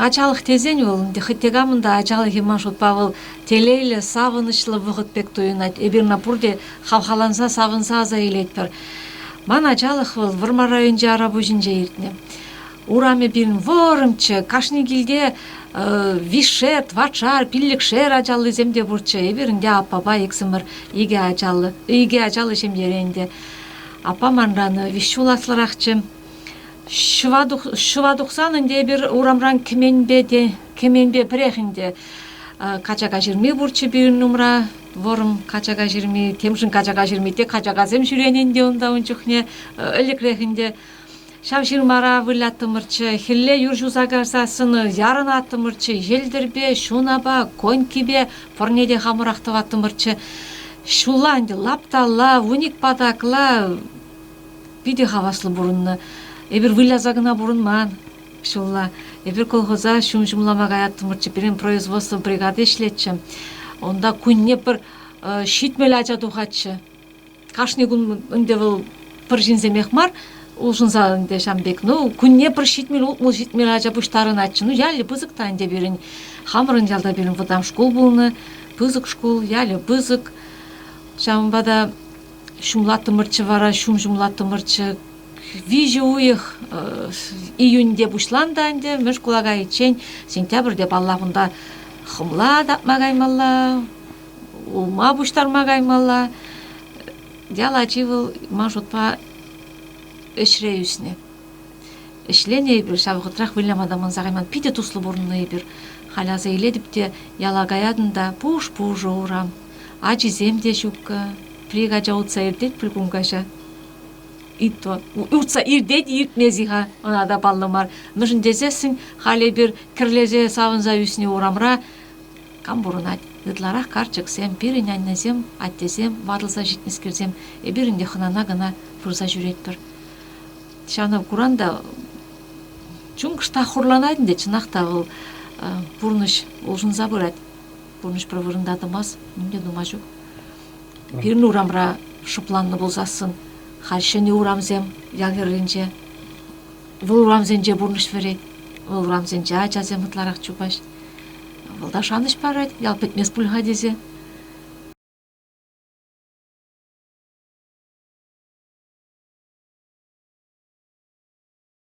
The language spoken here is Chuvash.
Ачалӑх тесен вӑл хӑть те камӑн та ачалӑхӗ ман шутпа вӑл телейлӗ, савӑнӑҫлӑ вӑхӑт пек туйӑнать. Эпир ӑна пурте хавхаланса, савӑнса аса илетпӗр. Ман ачалӑх вӑл Вӑрмар районӗнчи Арапуҫӗнче иртнӗ. Урамӗ пирӗн вӑрӑмччӗ, кашни килте више, тӑватшар, пиллӗкшер ачаллисем те пурччӗ. Эпир ӗнтӗ аппапа иксӗмӗр икӗ ачаллӑ, икӗ ачаллӑ ҫемьере ӗнтӗ. Аппа манран виҫҫул аслӑрахчӗ. Ҫӑва тухсан ӗнтӗ эпир урамран кӗменпе те кӗменпе пӗрех ӗнтӗ качака ҫырми пурччӗ пирӗн умра. Вӑрӑм качака ҫырми, темшӗн качака ҫырми те качакасем ҫӳренӗ ӗнтӗ унта ун чухне ӗлӗкрех ӗнтӗ. Ҫав ҫырмара выляттӑмӑрччӗ, хӗлле юр ҫуса кайса сӑнӑ ярӑнаттӑмӑрччӗ, йӗлтӗрпе, ҫунапа, конькипе пӑрне те хамӑрах тӑваттӑмӑрччӗ. Ҫулла ӗнтӗ лапталла, вуник патакла питӗ хаваслӑ пурӑннӑ. Эпир выляса кӑна пурӑнман ҫулла. Эпир колхоза ҫум ҫумлама каяттӑмӑрччӗ. Пирӗн производство бригади ӗҫлетчӗ. Унта кунне пӗр ҫитмӗл ача тухатчӗ. Кашни кун ӗнтӗ вӑл пӗр ҫынсемех мар, улшӑнса ӗнтӗ ҫам пек. Ну, кунне пӗр ҫитмӗл, ултмӑл ҫитмӗл ача пуҫтарӑнатчӗ. Ну, ялӗ пысӑк та ӗнтӗ пирӗн. Хамӑрӑн ялта пирӗн вӑтам шкул пулнӑ, пысӑк шкул, ялӗ пысӑк. Ҫавӑнпа та ҫумлаттӑмӑрччӗ вара, ҫум ҫумлаттӑмӑрччӗ. Виҫӗ уйӑх июньте пуҫланнӑ ӗнтӗ мӗш шкула кайиччен, сентябрьте, паллах, унта хӑмла татма каймалла, улма пуҫтарма каймалла. Ял ачи вӑл ман шутпа ӗҫре ӳснӗ. Ӗҫленӗ эпир, ҫав вӑхӑтрах выляма та манса кайман. Питӗ туслӑ пурӑннӑ эпир. Халь аса илетӗп те, яла каятӑн та пуш-пушӑ урам. Ачисем те ҫуккӑ. Плик ача утса иртет пуль кун каҫа. Итто, утса иртет иртмест-и-ха, ӑна та паллӑ мар. Мӗншӗн тесессӗн халь эпир кӗрлесе савӑнса ӳснӗ урамра Кам пурӑнать? Ытларах карчӑксем, пирӗн аннесем, аттесем, ватӑлса ҫитнӗскерсем, эпир ӗнтӗ хӑнана кӑна пырса ҫӳретпӗр. Ҫанӑ куран та чункӑш та хурланать ӗнтӗ, чӑнах та вӑл пурнӑҫ улшӑнса пырать. Пурнӑҫ пӗр вырӑнта тӑмасть, ним те тума ҫук. Пирӗн урамра шӑпланнӑ пулсассӑн халь ҫӗнӗ урамсем ял хӗрринче. Вӑл урамсенче пурнӑҫ вӗрет, вӑл урамсенче ачасем ытларах чупаҫ. Вӑл та шанӑҫ парать, ял пӗтмест пуль-ха тесе.